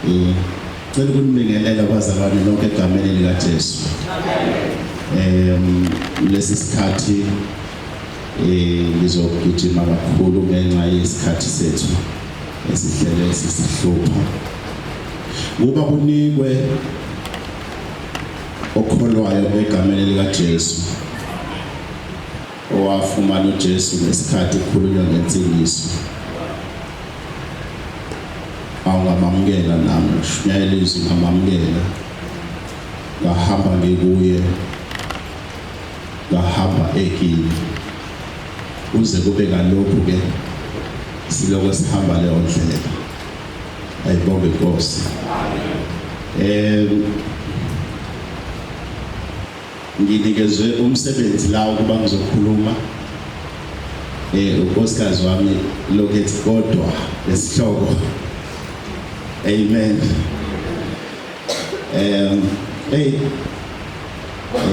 Eh, cela ukunibingelela kwazalwane lonke egameni likaJesu. Em lesi sikhathi eh ngizogijima kakhulu ngenxa yesikhathi sethu esihlele sisihlupha. Kuba kunikwe okholwayo egameni likaJesu. owafumana uJesu ngesikhathi kukhulunywa ngensindiso awungamamukela nami shunyayela izwi ngamamukela ngahamba ngikuye ngahamba ekini uze kube kalokhu ke siloko sihamba leyo ndlela ayibonge inkosi um Nginikezwe umsebenzi la ukuba ngizokhuluma eh unkosikazi wami lokethi kodwa lesihloko amen um hey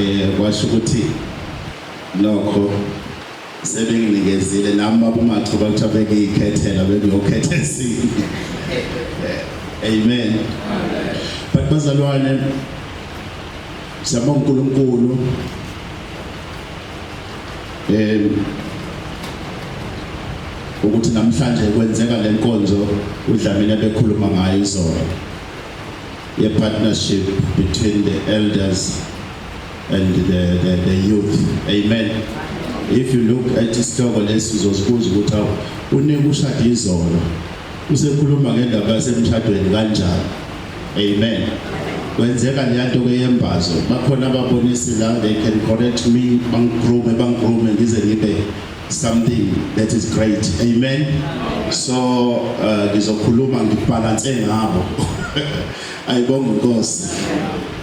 eh kwasho ukuthi nokho sebenginikezile nami babumathuba kuthiwa bengiyikhethela bengiyokhetha esinye amen but bazalwane siyabonga uNkulunkulu eh ukuthi namhlanje kwenzeka lenkonzo udlamini abekhuluma ngayo izolo ye partnership between the elders and the, the, the youth amen if you look at isihloko lesi uzozibuza ukuthi awu unike ushade izolo usekhuluma ngendaba yasemshadweni kanjani amen kwenzeka leyanto ke yembazo bakhona ababonisi la they can correct me bangigroome bangigroome ngize ngibe something that is great amen so uh, ngizokhuluma uh, ngibhalanse ngabo ayibonga inkosi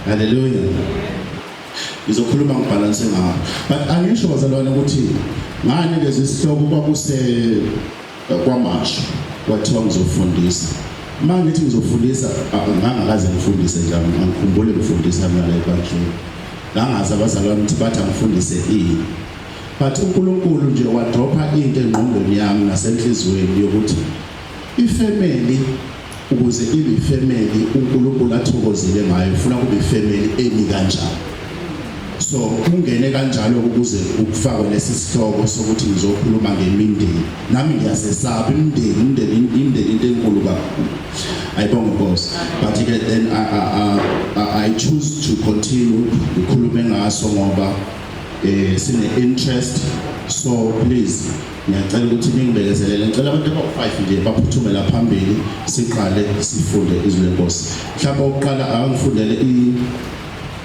haleluya ngizokhuluma ngibhalanse ngawo but angisho bazalwane ukuthi ngani lezi sihloko kwakuse eh, kwamasho kwathiwa ngizofundisa uma ngithi ngizofundisa ngangakaze ngifundise nje angikhumbule ngifundisa mina la ebandleni ngangazi abazalwane ukuthi bathi angifundise ini but uNkulunkulu nje wadropha into engqondweni yami nasenhlizweni yokuthi ifamily ukuze ibe ifemeli uNkulunkulu athokozile ngayo ufuna kube ifemeli emi kanjani so kungene kanjalo ukuze ukufakwe lesi sihloko sokuthi ngizokhuluma ngemindeni nami ngiyasesaba imindeni imindeni imindeni into enkulu kakhulu ayibonge inkosi but ke then I, I, I, I choose to continue ngikhulume ngaso ngoba eh sine interest so please Ngiyacela ukuthi ningibekezelele. Ngicela abantu abawu-five nje baphuthume la phambili siqale sifunde izwi lenkosi. Mhlawumbe okuqala akangifundele